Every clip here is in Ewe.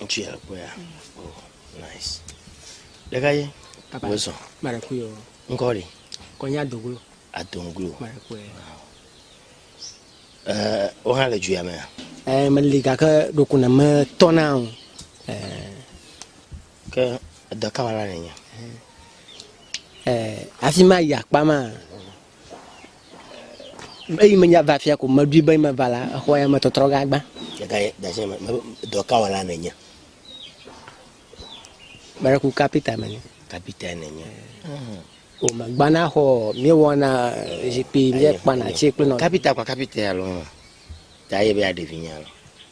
Ŋutsu ya kpɔ ya. Oh, nice. Ɖeka ye. Papa. Wosɔ. Mara kui o. Ŋkɔ ɖe. Kɔnya doglo. Adonglo. Mara kui. Ɛɛ, wo hã le dzuya me ya. Ɛɛ, meli gake ɖoku ne me tɔ na o. Ɛɛ. Ke edɔ kama la nenye. Ɛɛ, afi ma yi akpa ma. eyi menya va fia ko meɖui be meva la exɔ ya metɔtrɔ gã gbã dɔkawɔla nenye meɖeku kapita menye kapita nenye o megbana xɔ míewɔna zikpui míekpana tsi kple nɔ kapita kpa kapita alo ta ye be aɖevi nya lo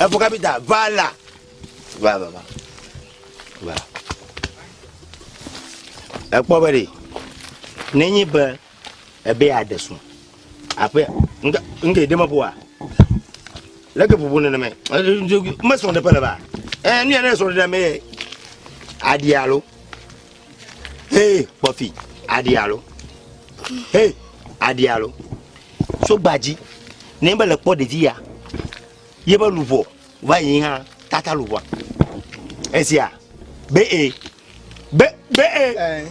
Efu kapita va la. Va va va. Va. Ekpɔ be ɖe nenye be ebe aɖe sùn aƒe nke nke ɖe meƒoa leke ƒoƒo nenema mesrɔ̃ ɖe ƒe le ba. Ee nu ya ne srɔ̃ ɖe me aɖi alo. Hee, kpɔfi, aɖi alo. Hee, aɖi alo. So gbadzi, ne be le kpɔ ɖevi ya, ye be luvɔ va yi hã tata luvɔa. Esia, be e, be, be e,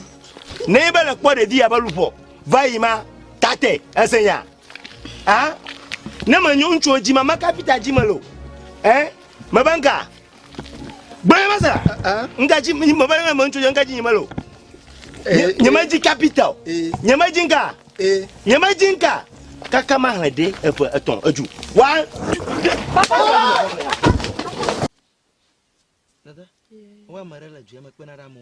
ne be le kpɔ ɖevi ya be luvɔ va yi ma tate, ese nya. Ah, ne me nyo ŋutsuwo dzi ma, maka fita dzi me lo. Eh, me be nka. Gblɔ nyema sera. Nka dzi me be nyema ŋutsu dze nka dzi nyema lo. Nyema dzi capital. Nyema dzi nka. Nyema dzi nka. Kaka ma hle de efe etɔn eju. Wa. Papa. Dada. Wa mare la djema kpena ra mo.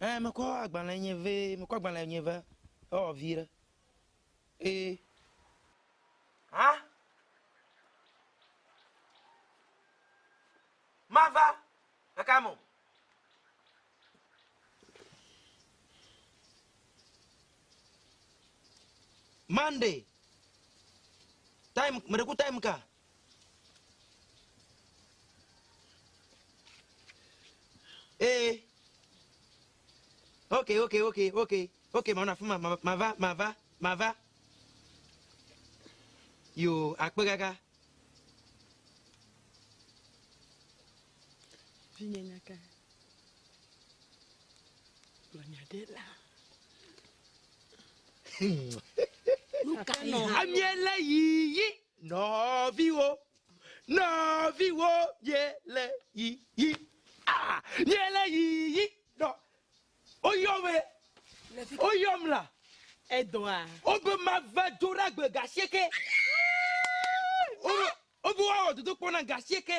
Ɛɛ, mekɔ agbalẽ nye vɛ, mekɔ agbalẽ nye vɛ ewɔ vi ɖe. Ee. Hã? Mava ɖeka me o. Monday, time, meɖe ku time ka? Ee. Ok, ok, ok, ok, ok, manɔ afi ma, mava, mava, mava. Yo, akpe gaga. Vinye nyaka. Gblɔ nya ɖe la. Nuka yi hã? Amiela yiyi. Nɔviwo, nɔviwo, miele yiyi, aa, miele yiyi, nɔ, woyɔ me, woyɔ mla, edɔa, wobe mava dzo ɖagbe gasieke, wobe woawɔ dodokpɔ na gasieke.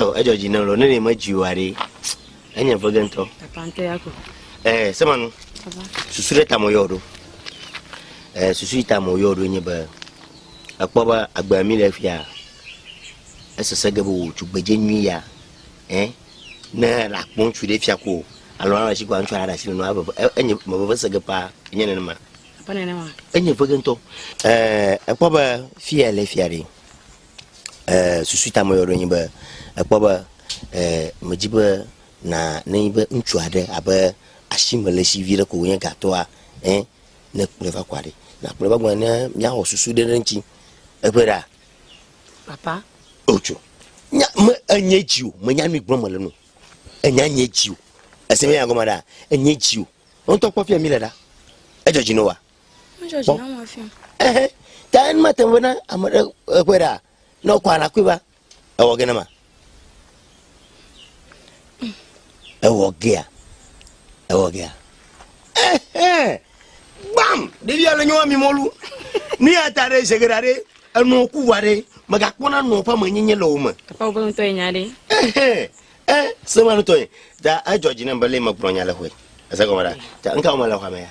Oh, edzɔ dzi ne lɔ ne ne medzi wa ɖe enye vege ŋutɔ. Epante ya ko. Eh, semanu. Susu ɖe tamo yɔ ɖo. Eh, susu yi tamo yɔ ɖo nye be ekpɔ be agbe mi le fia. Esese ge be wò tugbedze nyui ya. Eh, ne la kpɔ ŋutsu ɖe fia ko alo ala si ko ŋutsu ala ɖasi le nɔ ave e, enye me veve se ge pa enye nenema. Apa nenema. Enye vege ŋutɔ. Eh, ekpɔ be fia le fia ɖe. susu ta me yɔ ɖo nyi be ekpɔ be medzi be na ne nyi be ŋutsu aɖe abe asime le si viɖe ko wonye gatɔa ɛ ne kplɔe va kɔa ɖi nakplɔe va gbɔ ne míawɔ susu ɖe ɖe ŋuti eƒe ɖa papa otso nya me enye dzi o menya nu gblɔm mele nu enya nye dzi o ese me nya gɔme ɖa enye dzi o ŋutɔ kpɔ fia mi le ɖa edzɔ dzi no wa ta en ma te na ame ɖe eƒe ɖa ne wokɔ anakui va ewɔ ge nema ewɔ gea ewɔ gea gbam ɖevia le nyɔwa mi mɔlu nu ya ta ɖe ʒe geɖa ɖe enɔ ku wa ɖe megakpɔna nɔ ƒe amenyenye le wo me papa wogbe ŋutɔ ye nya ɖe ɛ sema ŋutɔ ye ta edzɔ dzi ne be le megblɔ nya le xoe ese gɔme ɖa ta ŋka wo mele xɔa me ya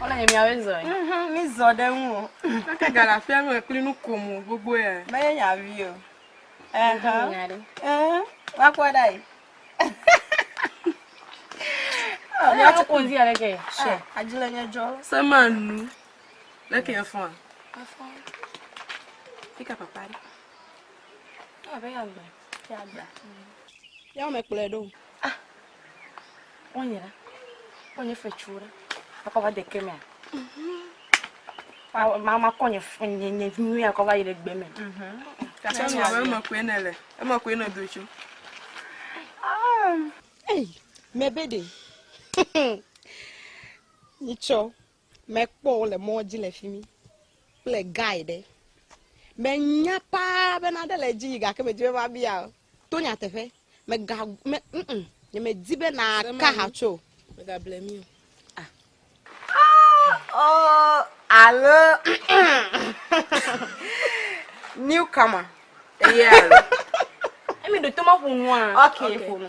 Wole nye miawe zɔ ye. Mhm, mi zɔ ɖe ŋu o. Eke gale afia nu ekpli nu ko mo gbogbo ya. Me ye nya vi o. Eh, ha. Eh, wa kwa da yi. Oh, ya tu kun dia leke. She. Ah, ajile nye jo. Se ma nu. Leke ya fon. Afon. Fika papa. Ah, be ya gba. Ya gba. Ya me kple do. Ah, wonye ɖe, wonye fetsuwo ɖe, akɔ va de ke mea. Ma ma kɔ nye nye nye nyuie akɔ va yi ɖe gbe me. Kata mi abe eme koe ne le, eme koe ne do tso. Ei, mebe de. Nitsɔ. Mekpɔ wo le mɔ dzi le fi mi kple guy ɖe. Menya paa be nane le edzi yi gake medi be mabia o. To nyateƒe, mega me mm nye medi be naka ha tso o. Megable mi o. Ah. Ah oh alo newcomer. Yeah. Emi do to ma ƒo nua. Okay, ƒo nu.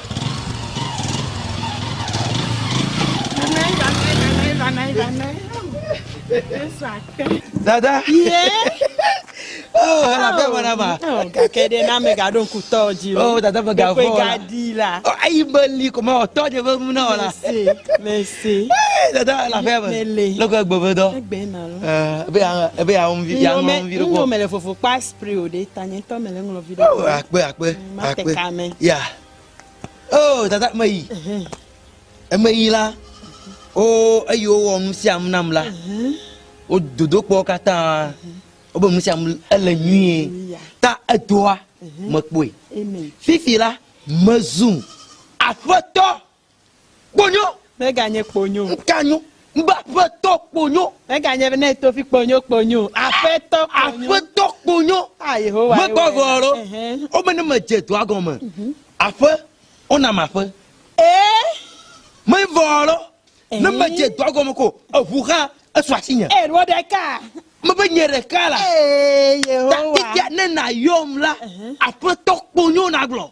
Dada. Ye. Oh, ala pe mana ma. Oh, gake de na me gado ku to ji. Oh, dada me gavo. Ko gadi la. Oh, ai be li ko ma to je be mu na ola. Merci. Merci. Dada la pe me. Lo ko gbo be do. Gbe na lo. Eh, be ya be ya on vi ya on vi ko. No me le fofo pa spray o de tanye to me le nglo vi do. Oh, akpe akpe. Mate ka me. Ya. Oh, dada meyi. Emeyi la, wo eyi wowɔ nu sia nu nam la. Wo dodokpɔ katã. Wobe nu sia nu ele nyuie. Ta edoa mekpɔe. Fifi la mezu aƒetɔ. Kponyo. Meganye kponyo. Ŋkanyo. Ŋbe aƒetɔ kponyo. Meganye be ne tofi kponyo kponyo. Aƒetɔ kponyo. Aƒetɔ kponyo. A ah, Yehowa. Mekpɔ vɔ alo. Wome ne medze dɔa gɔme. Mhm. Aƒe. Wona ma aƒe. Ee. Mevɔ alo. Ne medze dɔa gɔme ko. Eʋu xa esu asi nye. Ee, ɖo ɖeka. Mebe nye ɖeka la. Ee, Yehowa. Tatike ne nayɔm la. Aƒetɔ kponyo nagblɔ.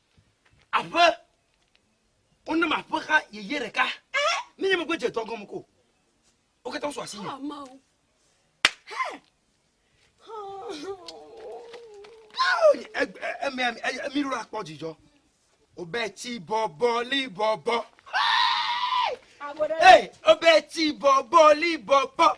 Aƒe. Wonam aƒe xa yeye ɖeka. Ne nye megbe dze dɔ gɔme ko. Wo katã wosu asinye. Emea mi ɖo akpɔ dzidzɔ. Obeti bɔbɔ li bɔbɔ. Hey, obeti bɔbɔ li bɔbɔ.